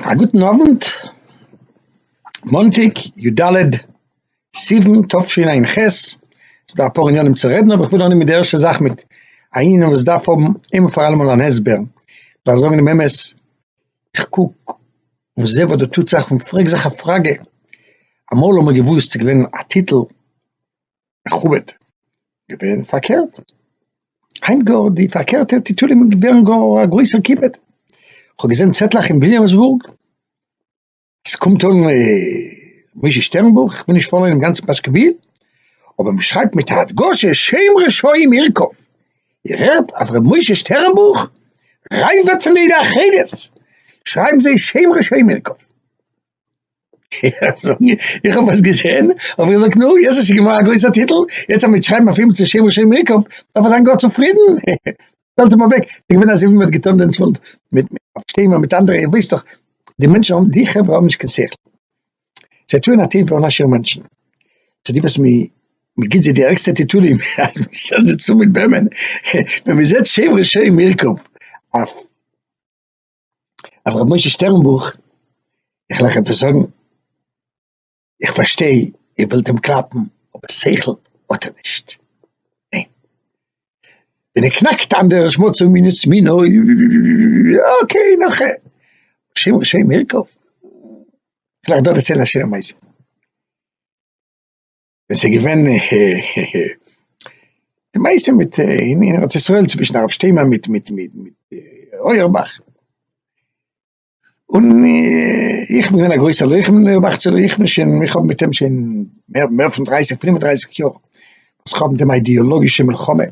א גוטן אווענט, מאנטאג יו ד סיוון תשפ ע, ס'דא אפאר עניינים צו רעדן אבער כ'וויל אנהייבן מיט די ערשטע זאך מיט א ענין וואס דארף האבן איין און פאר אלעמאל אן הסבר, דארף זאגן דעם אמת, כ'קוק און זעה וואס דא טוט זיך און פרעג זיך א פראגע, אמאל האט מען געוואוסט ס'איז געווען א טיטל מכובד געווען פארקערט היינט גאר די פארקערטע טיטולים ווערן גאר א גרויסער כיבוד, כ'האב געזען צעטלעך אין וויליאמסבורג אז ס'קומט אן משה שטערנבוך, כ'בין נישט פאראן אינעם גאנצן פאשקעוויל, אבער מ'שרייבט מיט א הדגשה שם רשעים ירקב, איר הערט אז ר' משה שטערנבוך רייוועט פון די עדה החרדית, שרייבן זיי שם רשעים ירקב. איך האב עס געזען, האב איך געזאגט, נו, יעצט האסטו געמאכט א גרויסער טיטל, יעצט אז מען וועט שרייבן אויף אים צו שם ושם ריקוב, דארף ער זיין גאר צופרידן, שטעלט אים אוועק, ס'איז געווען אזוי ווי מען האט געטון דעם צפון מיט הרב שטיינמאן מיט אנדערע, איר וויסט דאך, די מענטשן האבן, די חברה האבן נישט קיין שכל, זיי טוען א טובה אן א שיעור מענטשן, צו די וואס מען מען גיבט זיי די ערגסטע טיטולים, אז מען שטעלט זיי צאם מיט וועמען, ווען מען זעט שם ושם ריקוב אויף. אז רבי משה שטערנבוך איך לאך עפעס זאגן איך פארשטיי איר ווילט אים קלאפן אבער שכל האט ער נישט ניין ווען ער קנאקט איין דער שמאצע מינות סמינו אקעי נאך ע השם השם יעקב איך וועל דא דערציילן א שיינע מעשה. ווען ס'איז געווען די מעשה מיט אין ארץ ישראל צווישן הרב שטיינמאן מיט מיט מיט אויערבאך, און איך בין געווען א גרויסע לוחם אין אויערבאכ'צער איך בין שוין איך האב מיט אים שוין מער מער פון דרייסיג פינף און דרייסיג יאר, וואס איך האב מיט אים א אידעאלאגישע מלחמה,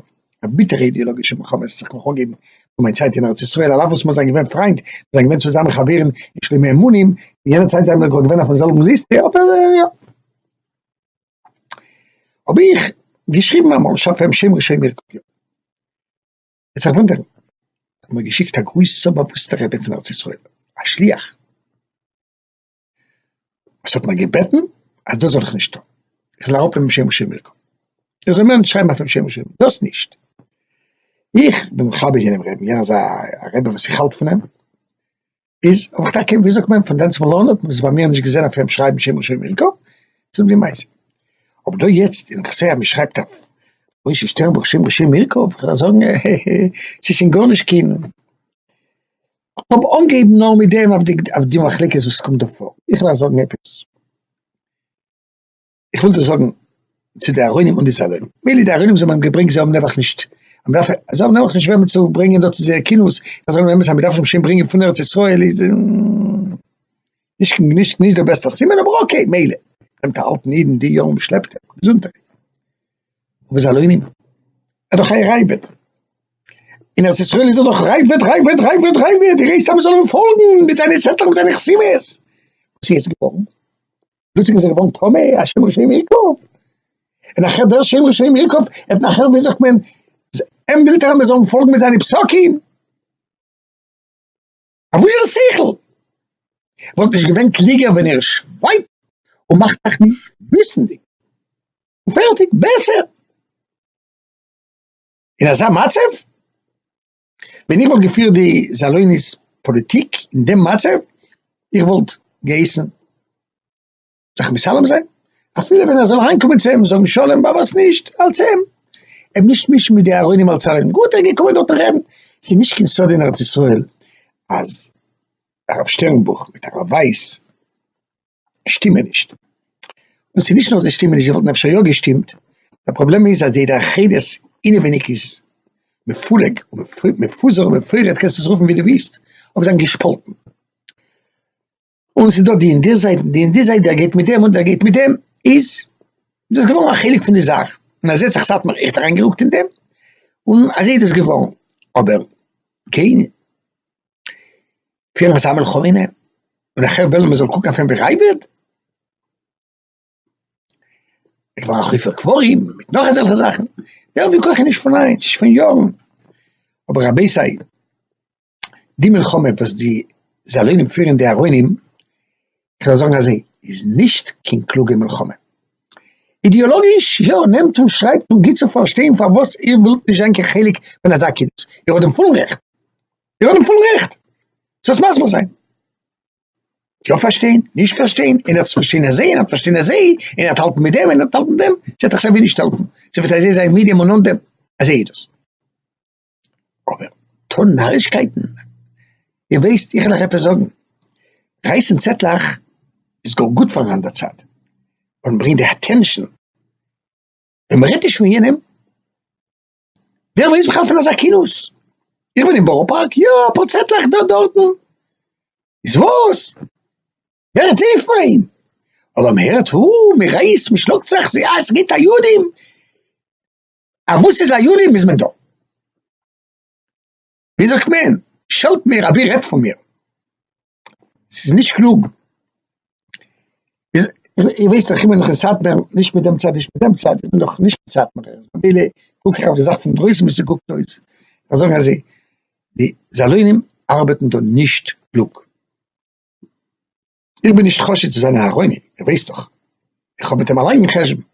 א ביטערע אידעאלאגישע מלחמה וואס האט זיך נאך אנגעהויבן פון מיין צייט אין ארץ ישראל, על אף וואס מיר זענען געווען פריינט, מיר זענען געווען צוזאמען חברים אין שלומי אמונים, אין יענע צייט זענען מיר געווען אויפן זעלבן ליסטע, אבער יא. האב איך געשריבן אמאל שאפעם שמעו שמעי קולי. וועט זיך וואונדערן האט מיר געשיקט א גרויסע באוואוסטע רבי פון ארץ ישראל א שליח וואס האט מיר געבעטן אז דאס זאל איך נישט טון איך זאל אראפנעמען שמעו שמעי קולי איך זאל מער נישט שרייבן אויפן שמעו שמעי קולי דאס נישט. איך בין מכבד יענעם רעבן יענער איז א רבי וואס איך האלט פון אים. איז האב איך טאקע ווי זאגט מען פון דענסמאל אן האט מען עס ביי מיר נישט געזען אויף אים שרייבן שמעון שום מילקא צום די מעשה אבער דא יעצט אין איך זעה אז מען שרייבט אויף משה שטערנבוך שמעון שום מילקא וועל איך זאגן העהע ס'איז שוין גארנישט קיין כ'האב אנגעהויבן נאר מיט דעם אויף די מחלוקת וואס קומט דא פאר איך וועל זאגן עפעס. איך וויל דאס זאגן צו די ארוינים און די סאלוני, מילא די ארוינים זיי האבן אים געברענגט זיי האבן נעבעך נישט, מ'דארף, זיי האבן נעבעך נישט וועמען צו ברענגען דא צו זייער כינוס, איך זאג נאר אמת אז מ'דארף אים שוין ברענגען פון ארץ ישראל איז נישט נישט דער בעסטער סימן, אבער אקעי מילא, נעמט א אלטן אידן די יארן מ'שלעפט אים, געזונטער. אבער סאלוני? ער איז דאך אייער אייוועלט, אין ארץ ישראל איז ער דאך ר' אייוועלט, ר' אייוועלט, ר' אייוועלט, ר' אייוועלט, איר הייסט אז מ'זאל אים פאלגן מיט זיינע צעטלעך מיט זיינע חסימות, וואס איז יעצט געווארן? דאס איז געווארן טמא, א שם רשעים ירקוב. און נאכער דער שם רשעים ירקוב, און נאכער ווי זאגט מען, אים ווילט ער מיר זאלן פאלגן מיט זיינע פסקים. אויף וואס זיין שכל? וואלט נישט געווען קלוגער ווען ער שווייגט און מאכט זיך נישט וויסנדיג. און פערטיג, בעסער. אין אזא מצב? ווען איך וואלט געפירט די זאלויניס פאליטיק אין דעם מצב, איך וואלט געהייסן זיך מסלם זיין, אפילו ווען ער זאל אריינקומען צו אים זאגן שלום, בה וואס נישט אלס אים, אים נישט מישן מיט די אהרונים אלס אהרונים, גאט ער איז געקומען דארטן רעדן, ס'איז נישט קיין סוד אין ארץ ישראל אז הרב שטערנבוך מיט הרב ווייס, שטימען נישט, און ס'איז נישט נאר זיי שטימען נישט, זיי וואלטן אפשר יא געשטימט, דער פראבלעם איז אז די התאחדות אינעווייניג איז מפולג ומפוזר ומפורד, קענסט עס רופן ווי דו ווילסט, אבער זיי זענען געשפאלטן, און ס'איז דא די און די זייט און די און די זייט, דער גייט מיט דעם און דער גייט מיט דעם, איז דאס געווארן א חלק פון די זאך, און אזוי האט זיך סאטמאר עכט אריינגערוקט אין דעם, און אזוי איז דאס געווארן, אבער קיין. פֿיר אַ זײַמעלע כּהונה, און אַ חבֿר װעלן, מע זאָל קוקן אױף אים װי רײבער? ער איז געװאָרן אַ חופּה קבֿרים, מיט נאָך אַזעלכע זאַכן. דער װיכּוח איז נישט פֿון הײַנט, ס'איז פֿון יאָרן. אָבער, רבותי, די מלחמה, װאָס די זאַלוינים פֿירן, די אַרונים, כ'װעל זאָגן אַזױ, איז נישט קײן קלוגע מלחמה. אידעאָלאָגיש, יאָ, נעמט און שרײַבט און גיט צו פֿאַרשטײן, פֿאַרװאָס איר װילט נישט זײַן קײן חלק פֿון אַזאַ קינץ. איר האָט דעם פֿולן רעכט. איר האט דעם פולן רעכט זיך מסביר זיין, יא פארשטיין, נישט פארשטיין, און ער האט עס פארשטיין אזוי און ער האט פארשטיין אזוי, און ער האט האלטן מיט דעם און ער האט האלטן מיט דעם, ס'וועט דאך סייווי נישט העלפן, ס'וועט אזוי זיין מיט דעם און אן דעם, אזוי איז דאס. אבער טון נארישקייטן, איר ווייסט, איך וועל אייך עפעס זאגן, רייסן צעטלעך איז גאר גוט פארן אנדער צד, ווייל מ'ברענגט די אטענשאן, ווען מ'רעדט נישט פון יענעם, ווער ווייסט בכלל פון אזא כינוס? איך בין אין בארא פארק, יא, אפאר צעטלעך דא דארטן. איז וואס? ווער האט ליעב פאר אים? אבער מען הערט הו, מען רייסט, מען שלאגט זיך, ס'איז א, ס'גייט א יודען, א וואס איז א יודען איז מען דא. ווי זאגט מען, שעלט מיר אבי רעדט פון מיר, ס'איז נישט קלוג, איר ווייסט דאך איך בין דאך אין סאטמער, נישט מיט דעם צד נישט מיט דעם צד, איך בין דאך נישט קיין סאטמערער, ממילא קוק איך אויף די זאך פון דרויסן ווי ס'קוקט אויס, איך זאג אזוי, די זאלוינים ארבעטן דא נישט קלוג, איך בין נישט חושד צו זיין אין אהרוני, איר ווייסט דאך, איך האב מיט אים א לאנגן חשבון,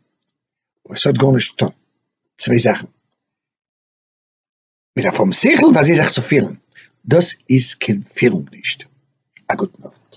אבער ס'האט גארנישט צוטון, צוויי זאכן. מיט א פרום שכל ווייסט זי זיך צו פירן, דאס איז קיין פירונג נישט. א גוטן אווענט.